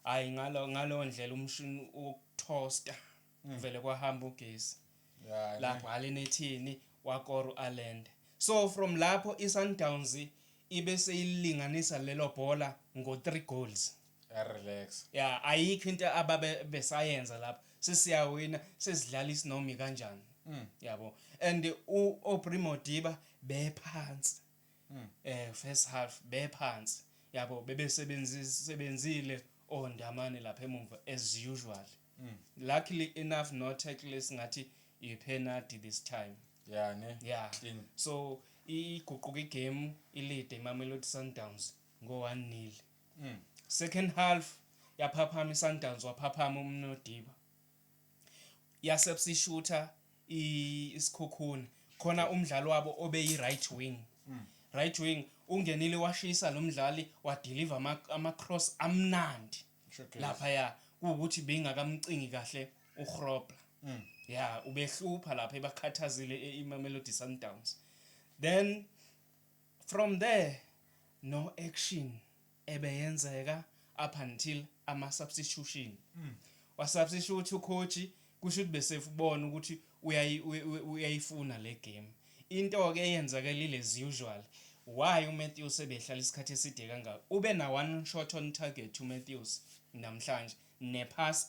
hayi ngalo ngalo ndlela umshini ukuthosta mm. vele kwahamba ugesi yeah, lapho hale nethini wakoro alende so from lapho iSundowns ibe seyilinganisa lelo bhola ngo 3 goals relax yeah ayikho into ababe besayenza lapho sesiyawina sesidlala isinomi kanjani mm. yabo and u Obrimo Diba bephansi mm. eh first half bephansi yabo bebesebenzisebenzile ondamane lapha emuva as usual mm. luckily enough no tackle esingathi i penalty this time yeah ne yeah Clean. so iguquka igame ilide imamelodi sundowns ngo-1 nil mm. second half yaphaphama isundowns waphaphama umnodiba yasebsishutha isikhukhuni khona umdlali wabo obeyi right wing mm. right wing ungenile washisa lo mdlali wadeliver ama-cross amnandi lapha ya kuwukuthi bengakamcingi kahle uhrobla mm. ya ubehlupha lapha ebakhathazile imamelodi sundowns then from there no action ebeyenzeka up until ama substitution wa substitute u coach kusho ukuthi besefubona ukuthi uyayifuna le game into ke eyenzakelile as usual why uMatthews sebehlala isikhathi eside kangaka ube na one shot on target uMatthews namhlanje nepass